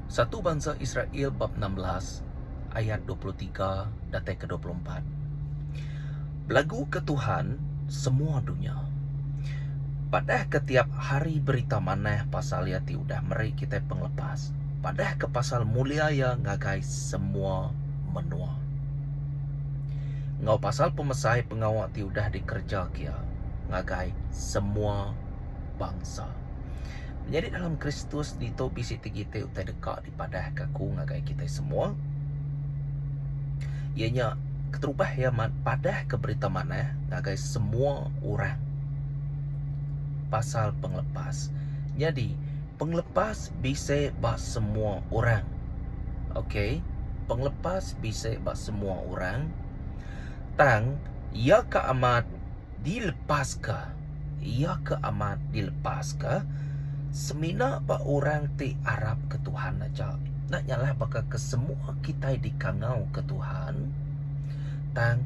Satu bansa Israel bab enam belas ayat dua puluh tiga datai ke dua puluh empat. Belaguka Tuhan, semua dunya. Padahka tiap hari berita manah pasal Iya ti udah meri kitai pengelepas. Padahka pasal mulia Iya ngagai semua menua. Enggau pasal pemesai pengawa ti udah dikerejaka Iya ngagai semua bangsa. Menyadi dalam Kristus ditu bisi ti gitik utai deka. padah ke aku ngagai kitai semua iya nya keterubah iya amat padah ke berita manah ngagai semua orang pasal pengelepas nyadi pengelepas bisi ba semua orang okey pengelepas bisi ba semua orang tang iya ka amat dilepaska iya ke amat dilepaska semina ba orang ti arap ke Tuhan aja enda nyalah baka ke semua kitai dikangau ke Tuhan tang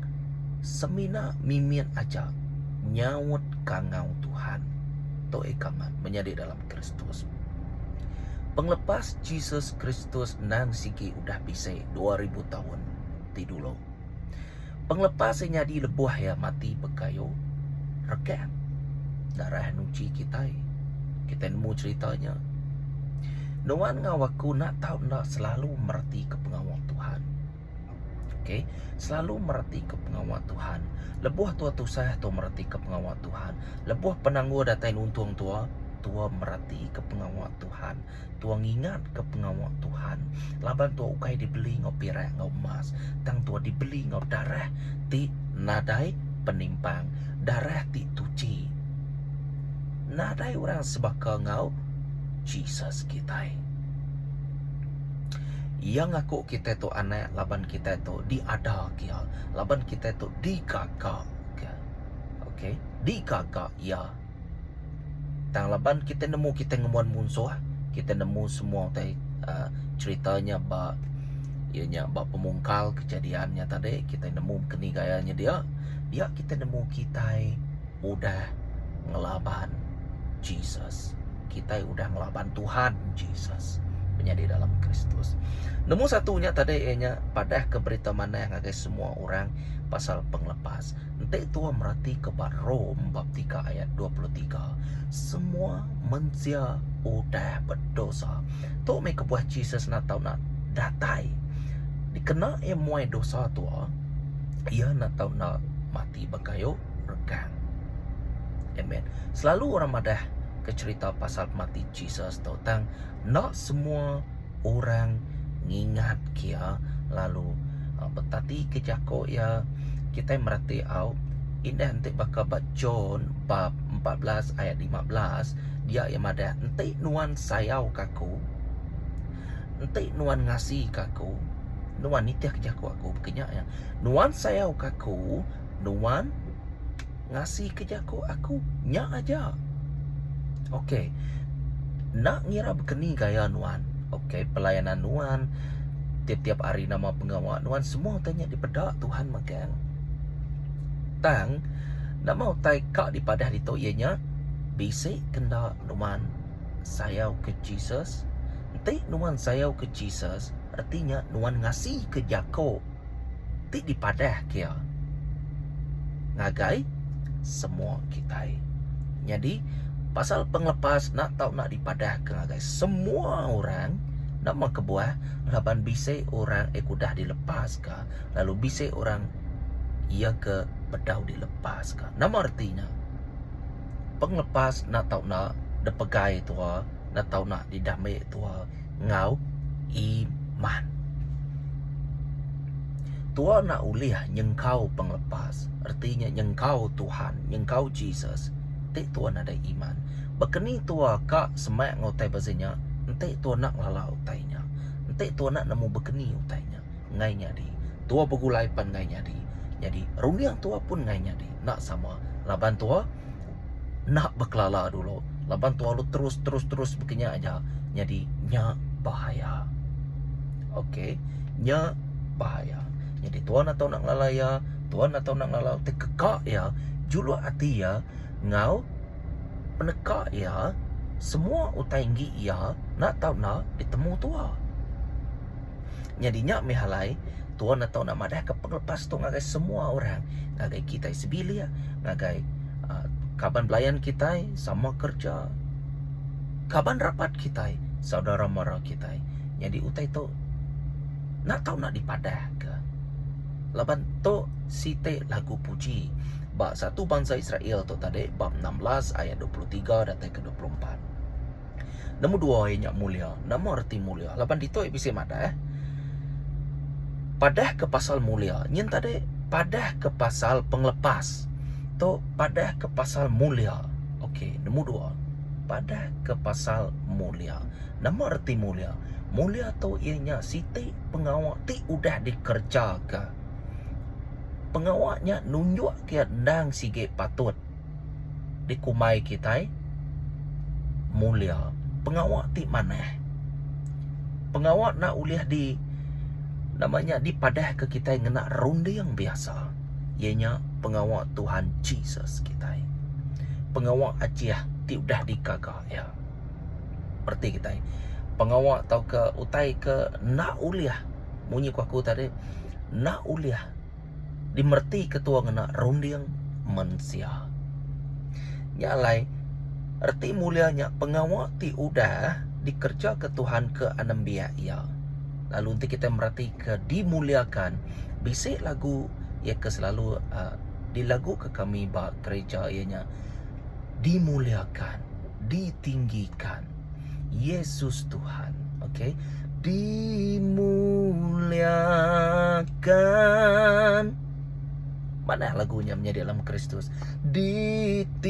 semina mimit aja nyaut kangau Tuhan tu ika amat menyadi dalam Kristus. Pengelepas Jesus Kristus endang sigi udah bisi dua ribu taun ti dulu. Pengelepa sai nyadi lebuh iya mati bekayu rekang darah nuchi kitai. Kitai nemu cherita nya. Nuan enggau aku enda tau enda selalu meretika pengawa Tuhan. Okay. Selalu meretika pengawa Tuhan. Lebuh tua tusah, tua meretika pengawa Tuhan. Lebuh penanggul datai nuntung tua, tua meretika pengawa Tuhan. Tua ngingatka pengawa Tuhan, laban tua ukai dibeli enggau pirak enggau emas, tang tua dibeli enggau darah ti nadai penimpang, darah ti tuchi. Nadai orang sebaka enggau Jesus kitai. Iya ngaku kitai tu anak laban kitai tu diadaka iya, laban kitai tu digaga. Okey, digaga iya. Tang laban kita nemu kita ngembuan munsuh, kita nemu semua utai aaa cherita nya ba iya nya ba pemungkal kejadian nya tadi kita nemu keni gaya nya dia, dia kita nemu kitai udah ngelaban Jesus. Kitai udah ngelaban Tuhan Jesus menyadi dalam Kristus. Nemu satu nya tadi iya nya padahka berita manah ngagai semua orang pasal pengelepas. Enti tua meratika ba Rome bab tiga ayat dua puluh tiga, semua mensia udah bedosa. Tu meh kebuah Jesus enda tau nak datai. Dikena iya muai dosa tua, iya enda tau enda mati ba kayu regang. Amen. Selalu orang madah ke cherita pasal pemati Jesus tu tang enda semua orang ngingat kia lalu betatika jako iya kitai mereti au indah enti baka ba John bab empat belas ayat lima belas dia iya madah enti nuan sayau ka aku enti nuan ngasi ka aku nuan nitih ka jako aku nuan sayau ka aku nuan ngasika jaku aku nya aja. Ok enda ngira baka ni gaya nuan ok pelayanan nuan tiap-tiap hari nama pengawa nuan semua utai nya dipeda Tuhan megang. Tang nama utai ka dipadah ditu iya nya bisi ke enda nuan sayau ke Jesus. Enti nuan sayau ke Jesus reti nya nuan ngasika jaku. ti dipadah kia ngagai semua kitai. Nyadi pasal pengelepas nak tau nak dipadah ke ngagai semua orang nama kebuah laban bisi orang aku dah dilepas ke lalu bisi orang ia ke bedau dilepas ke. Nama reti nya? Pengelepas nak tau nak dipegai tua nak tau nak didamai tua. enggau iman. Tua enda ulih nyengkau pengelepas, reti nya nyengkau Tuhan, nyengkau Jesus, enti tua nadai iman. Baka ni tua ka semak enggau utai beza nya, enti tua enda ngelala utai nya, enti tua enda nemu baka ni utai nya engai nyadi. Tua begulai pan engai nyadi. Nyadi runding tua pun engai nyadi, enda sama laban tua. enda bekelala dulu laban tuah lu terus terus terus baka nya aja nyadi nya bahaya ok nya bahaya nyadi tuan atau enda ngelala iya tuan atau enda ngelala ti keka iya juluk ati iya enggau peneka iya semua utai enggi iya enda tau enda ditemu tuah. Nyadi nya meh alai Tuan Atau enda madah ke pengelepas tu ngagai semua orang, ngagai kitai sebilik, ngagai uh, kaban belayan kitai, sama kerja, kaban rapat kitai, saudara mara kitai. Nyadi utai tu enda tau nak dipadah ke. Laban tu siti lagu puji ba satu bansa Israel tu tadi bab 16 ayat 23 datai ke 24. Nemu dua iya nya mulia. Nama reti mulia? Laban ditu iya bisi madah, padahka pasal mulia. Nyin tadi padahka pasal pengelepas. Tu padahka pasal mulia. Okey, nemu dua. Padahka pasal mulia. Nama reti mulia? Mulia tu iya nya siti pengawa ti udah dikerejaka. Pengawa nya nunjukka iya endang sigi patut. dikumbai kitai mulia pengawa ti manah. Pengawa enda ulih di nama nya dipadahka kitai ngena runding biasa iya nya pengawa Tuhan Jesus kitai. Pengawa Aceh ti udah digaga iya. Reti kitai pengawa tauka utai ke enda ulih munyi ku aku tadi enda ulih dimereti ketua ngena runding mensia. Nya alai, reti mulia nya pengawa ti udah dikerejaka Tuhan ke anembiak iya. Lalu enti kitai meretika dimuliakan, bisi lagu iya ke selalu aaa dilaguka kami ba gereja iya nya, Dimuliakan, ditinggikan. Yesus Tuhan. Okey. Dimuliakan. Mana lagunya menjadi dalam Kristus? Ditinggikan.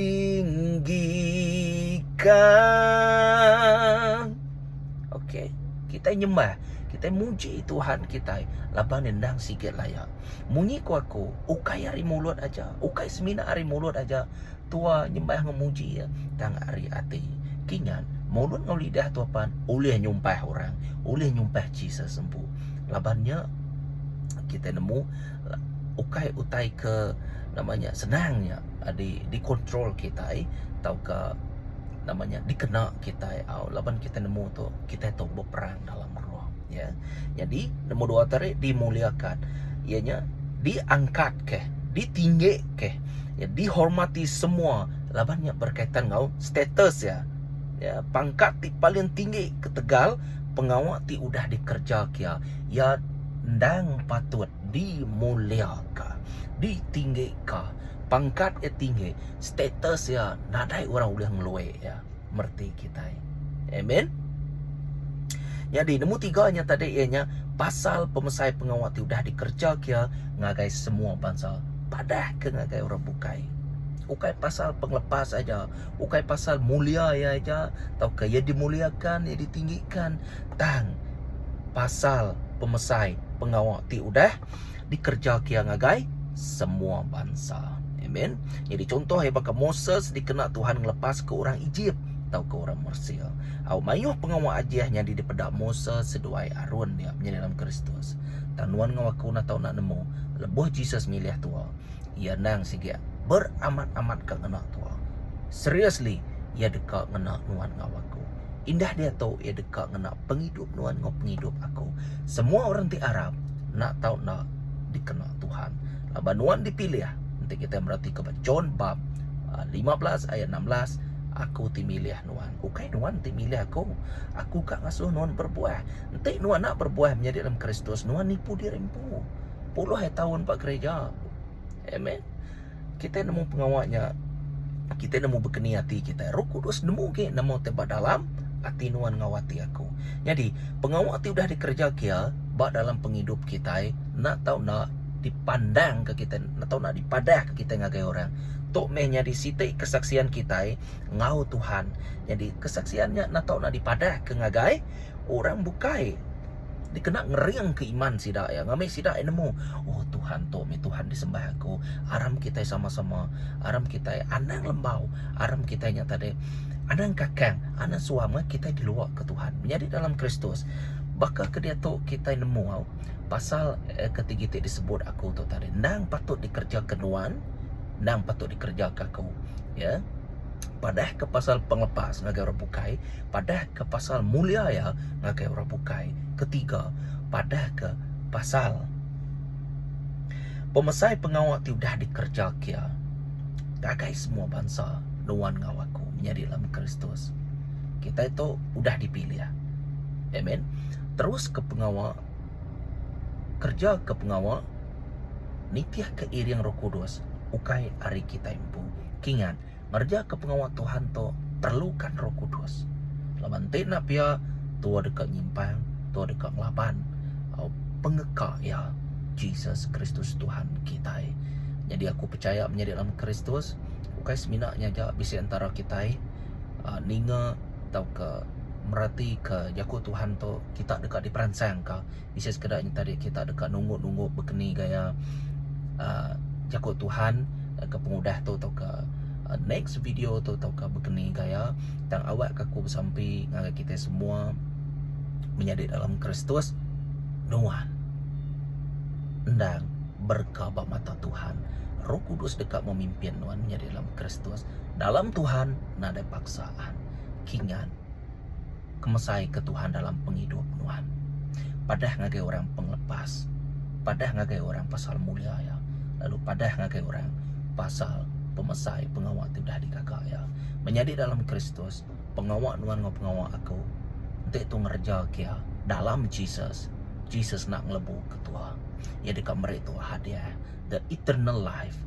Okey. Kita nyembah. Kita muji Tuhan kita. Laban endang sikit layak. Munyi kuaku. Ukai hari mulut aja. Ukai semina hari mulut aja. tua nyembah enggau muji iya tang ari ati. Kinyan, mulut enggau lidah tua pan ulih nyumpah orang, ulih nyumpah Jesus empu. Laban nya kitai nemu ukai utai ke nama nya senang nya di dikontrol kitai tauka nama nya dikena kitai au laban kitai nemu tu kitai tu beperang. alam roh. Ya. Nyadi nombor dua tu ari dimuliakan. Iya nya diangkatka, ditinggika, ya dihormati semua laban nya berkaitan enggau status iya. Ya, pangkat ti paling tinggi ketegal pengawa ti udah dikerja kia, iya endang patut dimuliaka, ditinggika. Pangkat iya tinggi, status iya nadai orang ulih ngelue iya. mereti kitai. Amen. Jadi nemu tiga nya tadi ia nya pasal pemesai pengawa ti udah dikerja kia ngagai semua bansa padah ke ngagai orang bukai ukai pasal pengelepas aja ukai pasal mulia ia aja tau ke ia dimuliakan ia ditinggikan tang pasal pemesai pengawa ti udah dikereja kia ngagai semua bansa. Amen. Nyadi contoh iya baka Moses dikena Tuhan ngelepaska orang Ejip tauka orang Mesir. Au mayuh pengawa ajih nyadi dipeda Moses seduai Arun nya menyadi dalam Kristus. Tang nuan enggau aku udah tau enda nemu, lebuh Jesus milih tua, iya endang sigi beramat-amatka ngena tua. Seriously, iya deka ngena nuan enggau aku. Indah diatu iya deka ngena pengidup nuan enggau pengidup aku. Semua orang ti arap enda tau enda dikena Tuhan. Laban nuan dipilih. Enti kitai meratika ba John bab 15 ah, ayat 16, aku ti milih nuan. Ukai nuan ti milih aku. Aku ka ngasuh nuan berbuah. Enti nuan enda berbuah menyadi dalam Kristus, nuan nipu diri empu. Puluh ai taun ba gereja. Amen. Kitai nemu pengawa nya, kitai nemu bekeni ati kitai. Roh Kudus nemu agi nemu ti ba dalam ati nuan enggau ati aku. Nyadi, pengawa ti udah dikereja kia ba dalam pengidup kitai enda tau enda dipandangka kitai, enda tau enda dipadahka kitai ngagai orang. Tu meh nyadi siti kesaksian kitai enggau Tuhan. Nyadi, kesaksian nya enda tau enda dipadahka ngagai orang bukai. dikena ngeringka iman sida iya ngambi sida iya nemu oh Tuhan tu mih Tuhan disembah aku aram kitai sama-sama aram kitai anang lembau aram kitai nya tadi anang kakang anang suah meh kitai diluah ke Tuhan menyadi dalam Kristus baka ke diatu kitai nemu au pasal eh, ketigi ti disebut aku tu tadi nang patut dikerjakan nuan nang patut dikerjakan aku ya yeah? Padah ke pasal pengelepas ngagai orang bukai, padah ke pasal mulia iya ngagai orang bukai. Ketiga, padah ke pasal pemesai pengawa ti udah dikereja kia ngagai semua bansa nuan enggau aku menyadi dalam Kristus. Kitai tu udah dipilih. Amen. Terus ke pengawa kerja ke pengawa nitihka iring Roh Kudus ukai ari kitai empu. Kingat, ngerejaka pengawa Tuhan tu perlukan Roh Kudus. Laban ti enda pia, tua deka nyimpang, tua deka ngelaban pengeka iya, Jesus Kristus Tuhan kitai. Nyadi aku pechaya menyadi dalam Kristus ukai semina nya aja bisi entara kitai ah, ninga tauka meratika jaku Tuhan tu kita deka diperansangka. bisi sekeda nyata diri kita deka nunggu-nunggu bekeni gaya uhh jaku Tuhan ke pengudah tu tauka next video tu tauka bekeni gaya tang awakka aku besampi ngagai kita semua menyadi dalam Kristus nuan endang berka ba mata Tuhan. Roh Kudus deka memimpin nuan menyadi dalam Kristus. Dalam Tuhan nadai paksaan. Kingat. kemesai ke Tuhan dalam pengidup nuan. Padah ngagai orang pengelepas, padah ngagai orang pasal mulia iya, lalu padah ngagai orang pasal pemesai pengawa ti udah digaga iya. Menyadi dalam Kristus, pengawa nuan enggau pengawa aku enti tu ngereja ke iya dalam Jesus, Jesus enda ngelebu ketua. Iya deka meri tu hadiah, the eternal life.